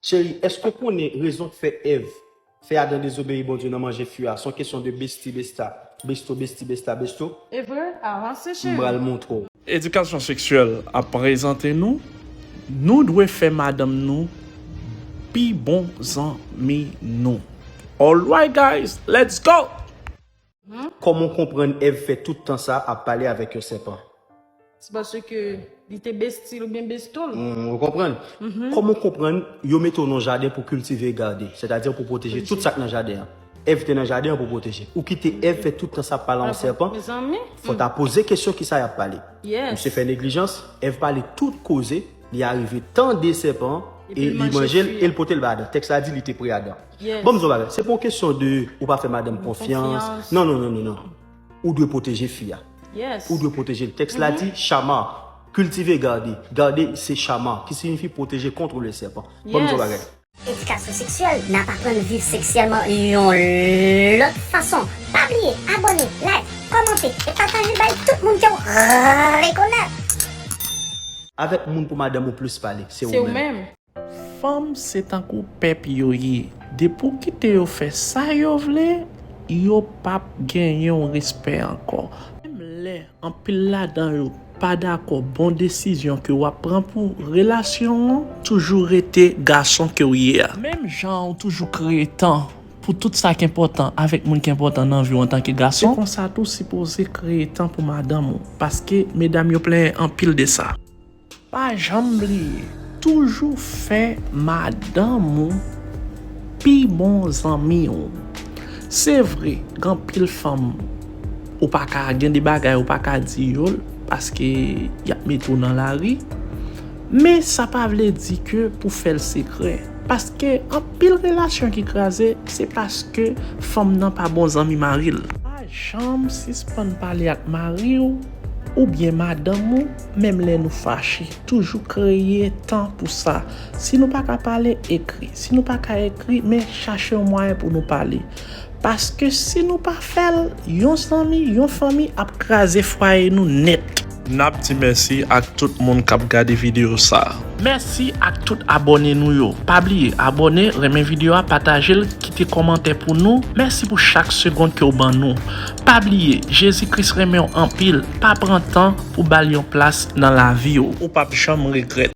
Cheri, èske w konnen rezon k fè Èv fè Adan dezobeyi Bondye nan manje fui a? S on kesyon de besti besta, besto besti besta besto. Evre? Avanse M cheri! pral montre w. Edikasyon seksyèl ap prezante nou, Nou dwe fè madanm nou pi bon zanmi nou. Alright guys, let's go! Kòman w konprann Èv fè tout tan sa ap pale avèk yon sèpan? Se paske li te besti l oubyen besto l. Ou konprann? Kòman w konprann yo mete w nan yon jaden pou kiltive e gade, sètadi pou pwoteje tout sa k nan jaden an? Èv te nan jaden an pou pwoteje. Ou kite Èv fè tout tan sa ap pale a yon sèpan? Fò w ta poze kesyon kisa y ap pale. Misye fè neglijans, Èv pale tout koze, li arive tande sèpan an e li manje l e l pote l bay Adan. Tèks la di li te pre Adan. Banm di yon bagay, se pa yon kesyon de ou pa fè madanm konfyans, non non non non, ou dwe pwoteje fi a, ou dwe pwoteje l. Tèks la di, Shamar, cultive garde, garde se Shamar ki siyifi pwoteje contre le serpent. Banm di yon bagay. Edikasyon seksyèl, nap aprann viv seksyèlman yon lòt fason. Pa bliye abòne, like, kòmante e pataje bay tout moun kew rekonèt. Avèk moun pou madanm ou plis pale se ou menm. Fanm se tankou pèp yo ye depi w kite yo fè sa yo vle yo pap genyen w respè ankò, menm lè anpil ladan yo pa dakò bon desizyon ke wap pran pou relasyon w lan toujou rete gason ke w ye a. Menm jan w toujou kreye tan pou tout sa k enpòtan avèk moun ki enpòtan nan vi w antanke gason, se konsa tou w sipoze kreye tan pou madanm ou paske medam yo plenyen anpil de sa. Pa janm bliye toujou fè madanm ou pi bon zanmi w. Se vre gen anpil fanm ou pa ka gen de bagay ou pa ka di yo l paske y ap mete w nan lari men sa pa vle di ke pou fè l sekrè paske anpil relasyon ki kraze se paske fanm nan pa bon zanmi mari l. Pa janm sispann pale ak mari w oubyen madanm ou Menm lè nou fache, toujou kreye tan pou sa. Si nou pa ka pale, ekri. Si nou pa ka ekri, men chache yon mwayen pou nou pale. Paske si nou pa fè l, yon zanmi, yon fanmi ap kraze fwaye nou nèt. N ap di mèsi ak tout moun k ap gade videyo sa a. Mèsi ak tout abòne nou yo. Pa bliye abòne, renmen videyo a, pataje l, kite kòmantè pou nou. Mèsi pou chak segond ke w ban nou. Pa bliye Jezi Kris renmenw anpil pa pran tan pou bal yon plas nan laviw. Ou pap janm regrèt.